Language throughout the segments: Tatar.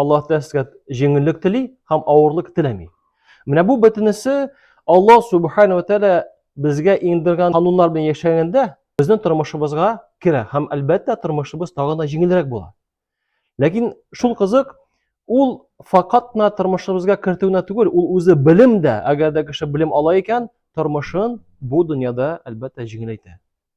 Аллаһ Тәгалә сезгә җиңеллек тели һәм авырлык теләми. Менә бу бөтенесе Аллаһ Субхана ва Тәгалә безгә иңдергән кануннар белән яшәгәндә безнең тормышыбызга керә һәм әлбәттә тормышыбыз тагын да җиңелрәк була. Ләкин шул кызык, ул факат кына тормышыбызга кертүенә түгел, ул үзе белем дә, әгәр дә кеше белем ала икән, тормышын бу дөньяда әлбәттә җиңеләйтә.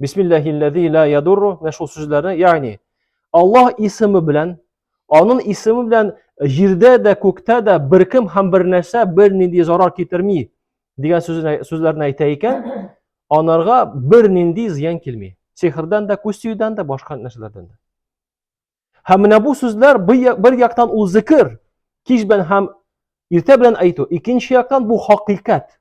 Бисмиллахиллази ла ядурру менә шул сүзләрне, ягъни Аллаһ исеме белән, аның исеме белән җирдә дә, күктә дә беркем һәм бернәрсә бернинди зарар китерми дигән сүзләрне әйтә икән, анарга бернинди зыян килми. Сихрдан да, күз тиюдән дә, башка нәрсәләрдән дә. Һәм менә бу сүзләр бер яктан ул зикр, кич белән һәм иртә белән әйтү, икенче яктан бу хакыйкать.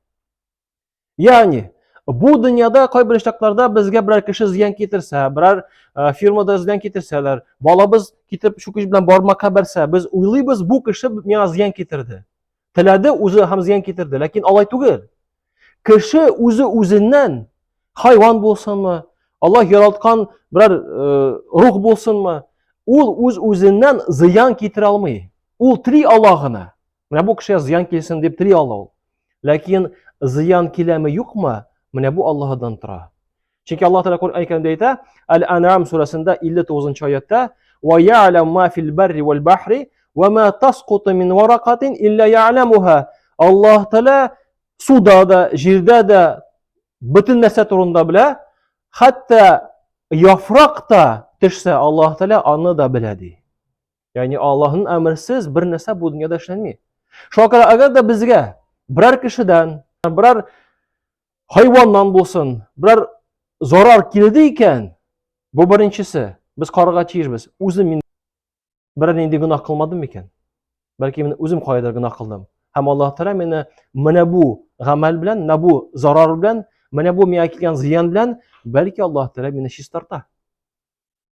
Ягъни, бу дөньяда кайбер очракларда безгә берәр кеше зыян китерсә, берәр э, фирмада зыян китерсәләр, балабыз китеп чүкеч белән бармакка бәрсә, без уйлыйбыз, бу кеше миңа зыян китерде. Теләде үзе һәм зыян китерде, ләкин алай түгел. Кеше үзе үзеннән хайван булсынмы, Аллаһ яралткан берәр э, рух булсынмы, ул үз-үзеннән зыян китерә алмый. Ул три ала гына. Менә бу кешегә зыян килсен дип тели ала ул. Ләкин зыян киләме юкмы, менә бу Аллаһыдан тора. Чөнки Аллаһ Тәгалә Коръән Кәримдә әйтә, Әл-Ан'ам сүрәсендә 59 аятта, "Ва я'лам ма фил барри вал бахри, ва ма тасқуту мин варакатин илля я'ламуха". Аллаһ Тәгалә суда да, җирдә дә бөтен нәрсә турында белә, хәтта яфрак та төшсә, Аллаһ Тәгалә аны да белә ди. Яни Аллаһның әмерсез бер нәрсә бу дөньяда эшләнми. Шуңа күрә әгәр дә безгә берәр кешедән, берәр хайваннан булсын, берәр зарар килде икән, бу беренчесе, без карарга тиешбез. Үзем мин берәр нинди гөнаһ кылмадым микән? Бәлки мин үзем кайдыр гөнаһ кылдым. Һәм Аллаһ Тәгалә мине менә бу гамәл белән, менә бу зарар белән, менә бу миңа килгән зыян белән, бәлки Аллаһ Тәгалә мине чистарта.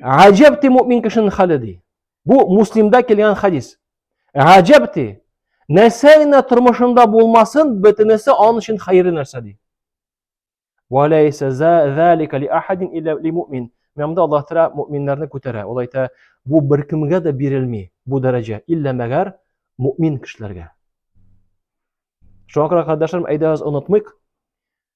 Гаҗәбти мөмин кешенең хәле ди. Бу Муслимда килгән хадис. Гаҗәбти нәрсә генә тормышында булмасын, бөтенесе аның өчен хәерле нәрсә ди. Ва лайса залика ли ахадин илля ли мөмин. Мәмдә Аллаһ Тәгалә мөминнәрне күтәрә. Ул әйтә, бу беркемгә дә бирелми бу дәрәҗә, илля мәгәр мөмин кешеләргә. Шуңа күрә, кардәшләрем, әйдәгез онытмыйк,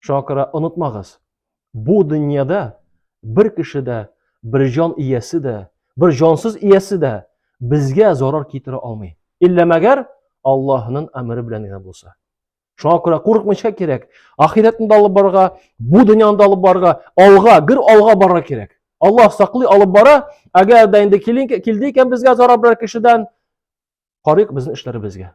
Шуңа күрә онытмагыз, бу дөньяда бер кеше дә, бер җан иясе дә, бер җансыз иясе дә безгә зарар китерә алмый. Иллә мәгәр Аллаһның әмере белән генә булса. Шуңа күрә курыкмыйча кирәк. Ахирәтне дә алып барырга, бу дөньяны да алып барырга, алга, гөр алга барырга кирәк. Аллаһ саклый алып бара. Әгәр дә инде килде икән безгә зарар берәр кешедән, карыйк безнең эшләребезгә.